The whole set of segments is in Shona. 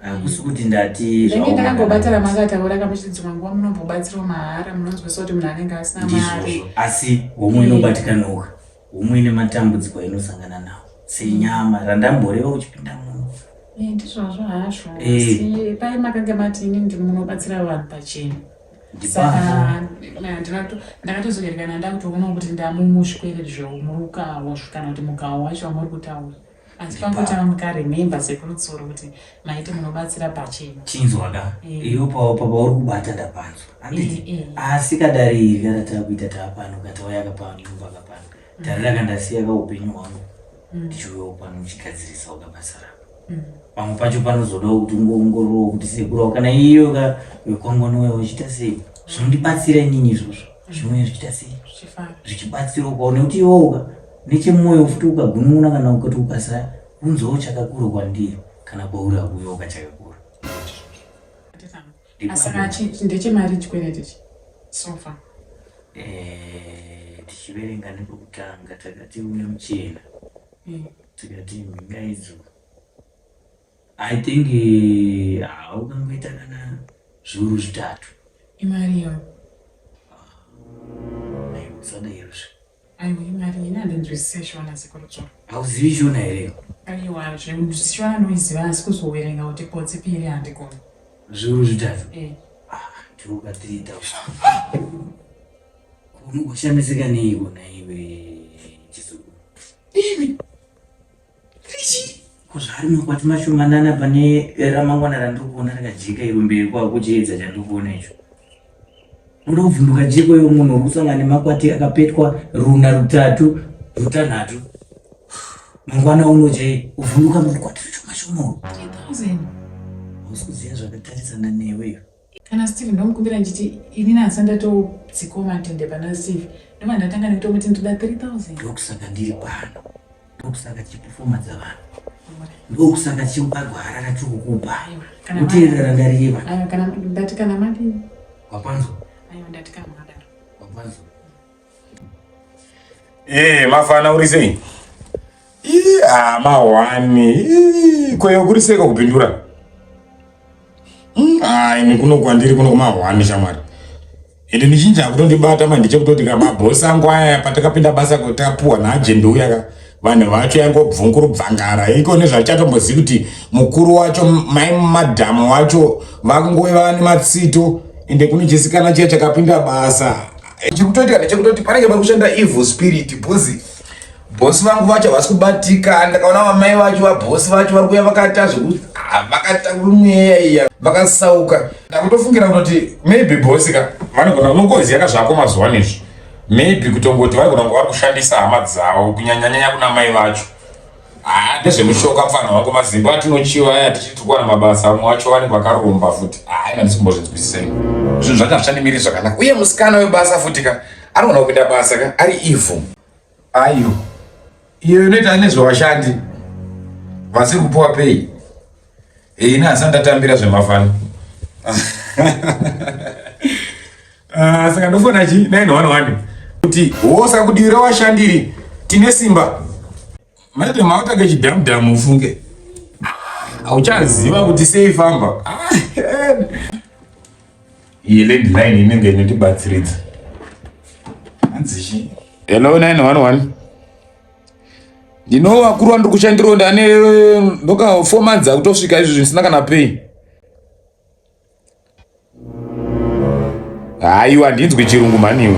hakusi kuti ndati zvange ndakambobatira makataura kamuchidzimwa nguva munombobatsirwa mahara munonzwisa kuti munhu anenge asina mari asi homwe inobatikanoka homwe ine matambudziko ainosangana nawo senyama randamboreva uchipinda muno eh, ndizvazvo hazvo eh. pai makange mati ini ndimunobatsira vanhu pachena saka ndakatozoerekana ndakutoona kuti ndamumushwerezvo muruka wasvikana kuti mugawo wacho wamuri kutaura asi pangotanga mukarememba sekuru tsoro kuti maiti munobatsira pachena chinzwaka eh. iyo pauri kubata ndapanzwa anditi eh, eh. asi kadari iri kana taakuita taapano katauya kapano imbaka pano mm. dare raka ndasiya ka upenyu hwangu mm. ndichiuyawo pano uchigadzirisa ukabasa rako mm. pamwe pacho panozoda kuti ungoongororo kuti sekurawo kana iyoka wekwangwanoya uchiita sei zvinondibatsira inini izvozvo zvinouya zvichiita sei zvichibatsira ukaona kuti iwoka nechemwoyo futi ukagunun'una kana ukati ukasa kunzwawo chakakura kwandiri kana kwauri akuyoka chakakura eh, tichiverenga nepokutanga takati une muchena hmm. tikati mhinga idzo I think haukangoita kana zviuru zvitatu. Imari yo. Usadairozve. Aiwa imari ina ndinzwisise shona sekurutsva. Hauzivi shona here? Aiwa zvemuzvishona noiziva asi kuzowerenga kuti potsi piri handikoni. Zviuru zvitatu. Eh. Ah, tiruka 3000. Kunokushamisika neiko naiwe chizukuru. Ini kuzvari makwati mashomanana pane ramangwana randiri kuona rakajeka iro mberi kwavo kuchiedza chandiri kuona icho unoda kuvhunduka jeko yo munhu uri kusangana nemakwati akapetwa runa rutatu rutanhatu mangwana uno chai kuvhunduka makwati mashomashoma usi kuziva zvakatarisana neweyo Kana Steve ndomukumbira ndichiti ini nasa ndatodzikwa matende pana Steve ndobva ndatanga nekutomuti ndoda 3000 ndokusaka ndiri pano ndokusaka tichipefoma dzavanhu ndokusaka tichimugagwa harara tiri kukupa kuteerera randareva ndati kana madii wapanzwa ndati kana madaro wapanzwa Eh, mafana uri sei? Ii, ah, mahwani. Ii, kweyo kuri sei kakupindura? Mm, ah, ini kuno kwandiri kuno kumahwani shamwari. Ende mizhinji akutondibata manje chekutoti ka mabhosi angu aya patakapinda basa kuti tapuwa naajende uya ka vanhu vacho yangobvunguru bvangara iko nezvachatombozivi kuti mukuru wacho mai madhamu wacho vakungove vane matsito ende kune chisikana chiya chakapinda basa chikutoitika ndechekutoti panenge pari kushanda evil spirit bhuzi bhosi vangu vacho havasi kubatika ndakaona vamai vacho vabhosi vacho vari kuya vakaita zvekuti ah, vakaita mweya iya vakasauka ndakutofungira kutoti maybe bhosi ka vanogona kunongoziva ka zvako mazuva ano izvi maybe kutongoti vanogona kunge vari kushandisa hama dzavo kunyanyanyanya kuna mai vacho Ah, ndezvemushoka mfana wako mazimbo atinochiva aya tichitukwa na mabasa amwe wacho wani kwakaromba futi ah ina ndisikumbozvinzwisisa ini zvinhu zvacho hazvichandimiri zvakanaka uye musikana webasa futi ka anogona kupinda basa ka ari evil ayo iyo inoita nezvevashandi vasiri kupuwa pei Hey, ini hasati ndatambira zvemafana ah, saka ndofona chi 911 kuti wosa kudiwira washandiri tine simba maite maotage chidhamudhamu ufunge hauchaziva kuti sei famba ah, iyi landline inenge inotibatsiridza hanzichi hello 911 ndino vakuru vandiri kushandiro ndane ndoka four months akutosvika izvi zvisina kana pay haiwa handinzwi chirungu mhaniwe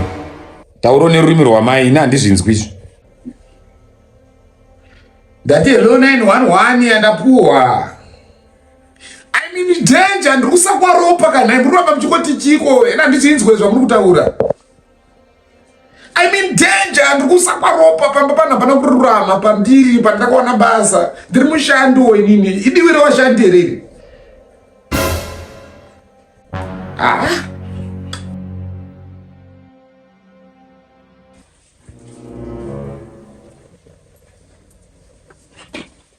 tauro nerurimi rwamai ini handizvinzwi izvi ndati hello 911 yandapuwa i mean danger ndiri kusakwaropa kana muri vamba muchikoti chiko ena handichinzwe zvamuri kutaura I mean danger andikusakwa ropa pamba panhu hapana kururama pandiri pandakaona basa ndiri mushandi wo inini idiwi revashandi here iri ah.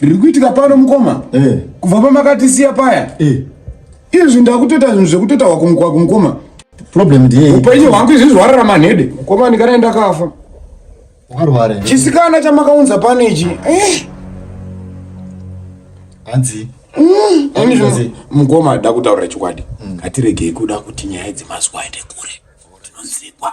riri kuitika pano mukoma eh. kubva pamakatisiya paya eh. izvi ndakutoita zvinhu zvekutotawa kumukwa kumukoma problem ndiye upenyu hwangu izvi zvarara manhede mukoma ndikana ndakafa warware chisikana chamakaunza pano ichi eh. hanzi mm. mukoma ada kutaurira chokwadi mm. ngatiregei kuda kuti nyaya dzemazuva aende kure tinonzikwa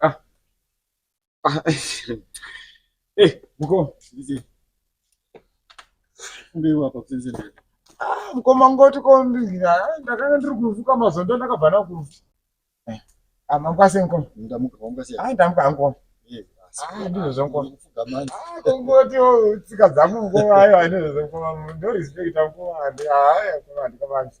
Ah. Ah. Eh, mkoma. Mbewa hapa kusenze nani? Ah, mkoma ngoti kombinga. Ndakanga ndiri kuvuka mazondo ndakabva nakuvu. Eh. Ah, mangwase mkoma. Ndamuka mangwase. Ah, ndamuka mkoma. Eh. Ah, ndizvo zvankoma. Ah, kongoti tsika dzangu mkoma ayo ndizvo zvankoma. Ndo respect mkoma. Ah, mkoma ndikabanzi.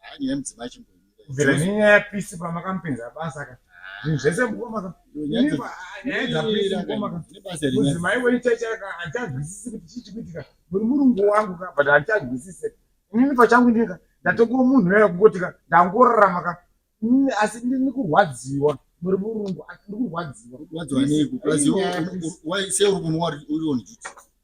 haa nyaya yemudzimai chimboimira kubvira nenyaya yapisi pamakamupinza basa ka zvinhu zvese mukomaka nyaya dzapisi mukomaka mudzimai wenyu chaichaka handichazwisisi kuti chii chikuitika muri murungu wangu ka but handichazwisise inini pachangu ndika ndatokuwa munhu yaya kungoti ka ndangorarama ka asi ndini kurwadziwa muri murungu asi ndikurwadziwa kurwadziwa nei kurwadziwa sei uri kunwa uri on duty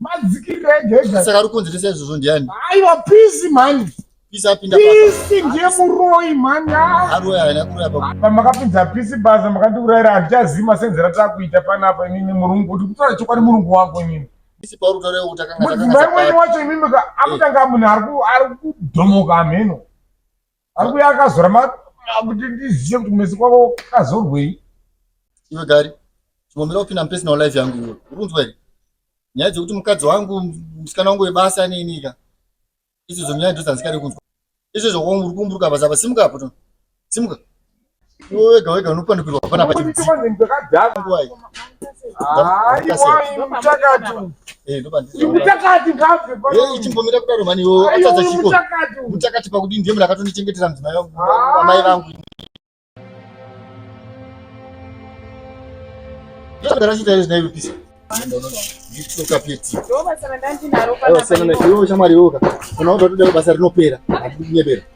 madzikirira ega ega saka ari kunzirisa izvozvo ndiani aiwa pisi mhani pisi apinda pisi ndiye muroyi mhani ah. aroyi haina kuroya pa pamakapinza pisi basa makandiurayira handichazivi masenzera taakuita panapa inini murungu kuti kutaura chokwadi murungu wangu inini mudzimai wenyu wacho imimi ka eh. akutanga munhu ari kudhomoka hameno Ambuya akazora ma kuti ndiziye kuti kumezi kwako kazorwei. Iwe gari. Chimomera kupinda mupersonal life yangu iwe. Urunzwa here? Nyaya dzekuti mukadzi wangu musikana wangu webasa aneinika. Izvozvo nyaya ndidzo dzandisikade kunzwa. Izvozvo uri kumburuka basa apa simuka apo. Simuka. Iwe wega wega unopanikirwa hapana pachimutakatimutakatichimbomira kudaro mani iwo atadza chiko mutakati pakudii ndiye munhu akatondichengeta mudzimai vangu amai vangu ndakachita izvi naiwe pisa ndokapetiiwo shamwari iwoka unaoda kuti basa rinopera akunyebera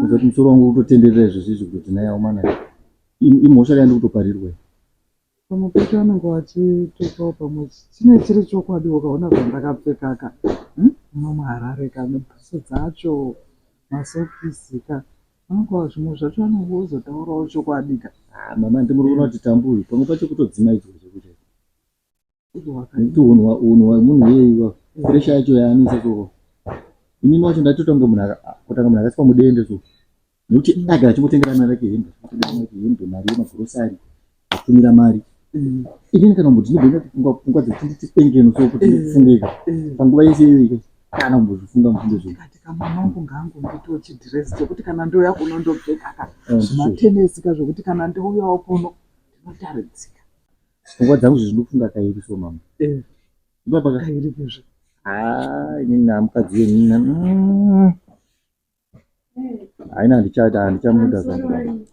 Kuzoti musoro wangu utotenderera izvo zvizvi kuti tinaye aumana imhosva kayandi kutoparirwa iyi. Pamwe pacho vanenge vachitukawo pamwe chine chiri chokwadi ukaona zvandakapfekaka hmm? muno muharare ka nebhuso dzacho masokisi ka anonga zvimwe zvacho anenge ozotaurawo chokwadi ka ah, mama ndimuri kuona kuti tambuyi pamwe pacho kutodzimaidzwa zvekuti ndiunhu unhu munhu yeiwa presha yacho yaanisa so inini wacho ndatotonge munhu kutanga munhu akasikwa mudende so nekuti ndagara chingotengera mari yake hembe hembe mari yemagrosari atumira mari mm. inini kana mbuti ndigona kufunga pfungwa dzekuti nditipengeno so kuti mm. ndifungeka mm. panguva yese iyoika kana kumbozofunga mufunge zvokati kamwanangu ngangu ndito chidhiresi chekuti kana ndouya kuno ndopfekaka ah, zvimatenesika zvokuti kana ndouyawo kuno ndinotaridzika pfungwa dzangu zvinofunga kairi so mama eh. ibaba kairi kezve haa inini na mukadzi wenina mm. haina handichada handichamuda zvangu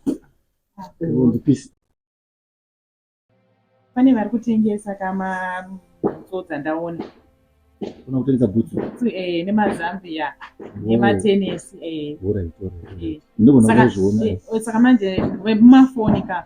ndipisi pane vari kutengesa kama bhutso dzandaona una kutengesa bhutso eh, nemazambia nematenesi eh. eh. ndozviona saka manje wemumafoni ka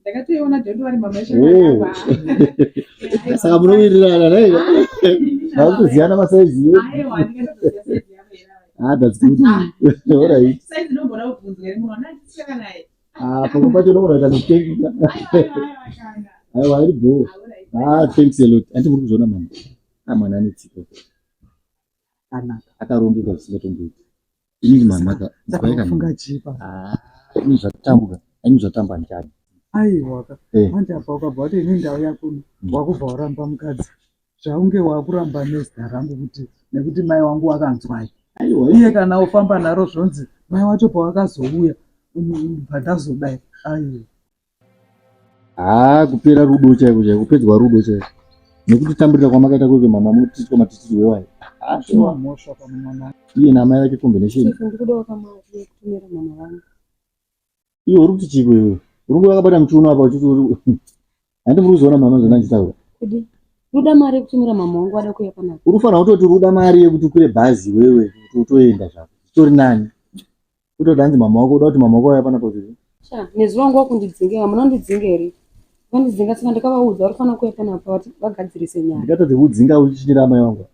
ndakatoiona dondowari mama saka munowirirana nei vakutoziyana masaizi pamwe pacho unogonaita nekutengesa aiwa iri bho thanks a lot andi muri kuzviona mama amwana anetsiko akanaka akarongeka zvisingatomboiti Ini mama ka. Saka unofunga chii pa? Ah, ini zvatambwa. Ini zvatamba ndani. Aiwa ka. Eh. Manje apa ukabva kuti ini ndau yako wakubva waramba mukadzi. Zvaunge wakuramba nezita rangu kuti nekuti mai wangu wakanzwai. Aiwa iye kana ofamba naro zvonzi mai wacho pawakazouya pandazodai. Aiwa. haa kupera rudo chaiko chaiko kupedzwa rudo chaiko nekuti tamburira kwamakaita kweke mama mutiitwa matitiri wewayo iye namai vake combination iwe uri kuti chiko iwe urungu vakabata muchiuno apa uchiti handi muri kuzoona mama zvona ndichitaura ruda mari yekutumira mama wangu ada kuya panapa unofanira kutoti ruda mari yekuti ukwire bhazi iwewe kuti utoenda zvako zvitori nani kutoda hanzi mama wako uda kuti mama wako vaya pana pazviri sha nezuva nguva kundidzingira munondidzinga here vandidzinga saka ndakavaudza vari kufanira kuya pana pa vati vagadzirise nyaya ndikatadze kudzinga uchichinyira amai vangu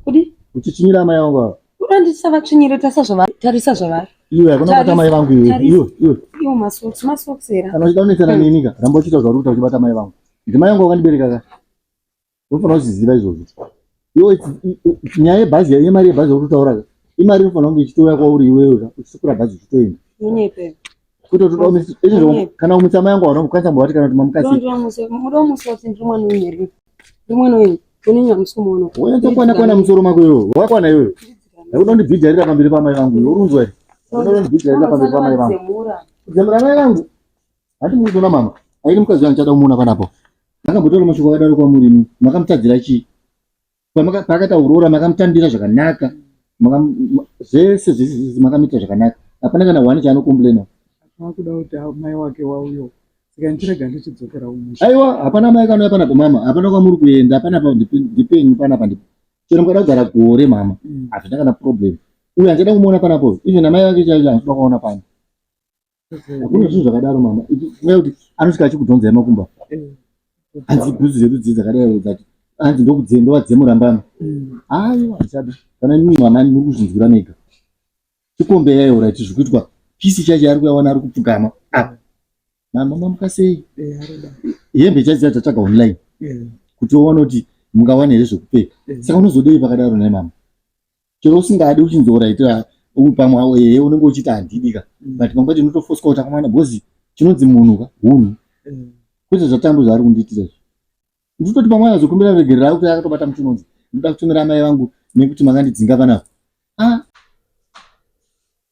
kudi uchichinyira amai vangu ava uda ndisavatsvinyire tarisa zvavari tarisa zvavari iwe hakuna kubata amai vangu iwe Tarisa. iwe iwe iwo masoks masoks here kana uchida kunetsana neni ka ramba uchiita zvauri kuita uchibata amai vangu ndimai vangu wakandibereka ka unofanira kuziziva izvozvo iwe nyaya yebhazi yaiye mari yebhazi yakutotaura imari inofanira kunge ichitouya kwauri iwewe ka uchisukura bhazi uchitoenda kana umutsa mai yangu hauna kukwanisa mbavati kana kuti mamukasiwanatokwana kwana musoro mako iwewe wakwana iwewe akuda kundibhijarira pamberi pamai vangu urunzwa uri unondibhijarira pamberi pamai vangu kudzamura mai vangu Hati muri kuona mama, airi mukadzi wangu chada kumuona panapo. Makambotaura mashoko akadaro kwamuri imi, makamutadzira chii? Pamaka- Paakaita kuroora makamutambira zvakanaka, Makam- ma- zvese zvese zvese makamuita zvakanaka. Hapana kana one chaanokomplaina. Akuda kuti a- mai wake wauyo. Saka ndichirega ndichidzokera umusha. Aiwa, hapana mai kanouya panapo mama, hapana kwamuri kuenda, hapana pa ndipe- ndipenyu panapa ndipo. Chero mukada kugara gore mama, Mm. hazvina kana problem. Uyu handichada kumuona panapo, even amai vake chaivo handikuda kuona pano. hakuna zvinhu zvakadaro mama ichikuya kuti anosvika achikudhonzai makumba hanzi bhuzi dzedu dzii dzakadai dzati hanzi ndokudzendowa dzemurambama aiwa zvisada kana nyuyi mwana ani muri kuzvinzwira mega chikombe yaiora iti zviri kuitwa pisi chacho yaari kuyawana ari kupfugama apa mama mamuka sei hembe chacho dzacho tatsvaga online kuti oona kuti mungawana here zvekupfeka saka unozodei pakadaro nai mama chero usingadi uchinzora ita uyu pamwe awo yeye unenge uchiti handidi ka mm. but pamwe pacho unotofoswa kuti akamwana bhozi chinonzi munhu ka hunhu mm. kwete zvatambo zvaari kundiitira izvi nditoti pamwe azokumbira regerera auti akatobata muti unonzi ndoda kutumira amai vangu nekuti makandidzinga panavo a ah.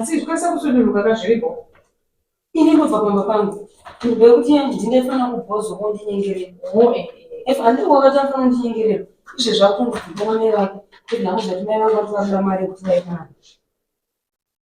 asi zvikwanisa kusuduruka kazviripo ini ndobva pamba pangu ndoda kuti yangu ndingafanira kubhozwa kondinyengerera handii wakatafana kundinyengerera izve zvakunzi kutomamai vake kuti nhamu zvatimai vake vati vakuda mari yekuti vaimana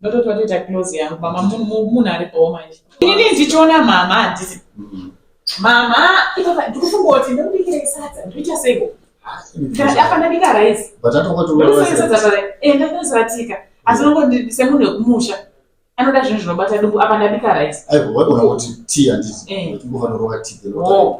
ndototi watoita close yangu mama munhu ari bho manje inini ndichiona mama handisi mama ndikufungoti ndokubikirei sadza ndoita seiko apa ndabika rice ndakazaratika asi nongoti semunhu wekumusha anoda zvinhu zvinobata duku apa ndabika rice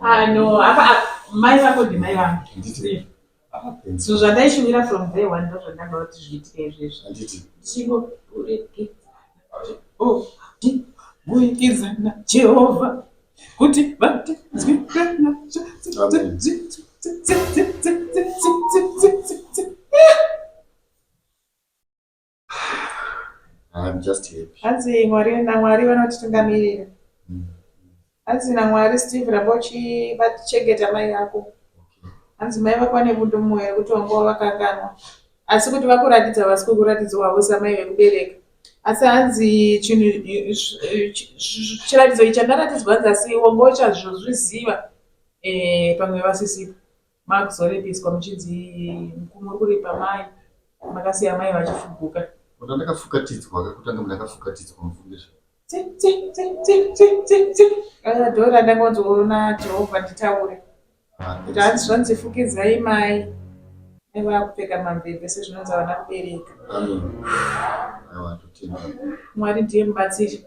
Ah, no, apa ah, mai vako ndimai vangu so zvandaishuvira from day one ndozvandanga kuti zviitike izvezvo ndichingobuikizana jehovha kuti vatinzwirana I'm just happy. Hanzi Mwari naMwari vanotitungamirira. Mm. Hanzi naMwari Steve ramba uchivachengeta mai vako. Okay. Hanzi mai vako vane bundu mumwe yekuti wanga wavakanganwa. Asi kuti vakuratidza vasi kukuratidza wavo samai vekubereka. Asi hanzi chinhu chiratidzo ichi chandaratidzwa hanzi asi wanga uchazvozviziva eh, pamwe vasisipo. Makuzorepiswa muchinzi mukumi uri kuripa mai makasiya mai vachifuguka. Kuti ndakafukatidzwa kakutanga ndakafukatidzwa mufundiswa. Dora ndangonzoona Jehovha nditaure. Kuti hanzi zvanzi fukidzai mai nevakupfeka mamvembe sezvinonzi havana kubereka. Mwari ndiye mubatsiri.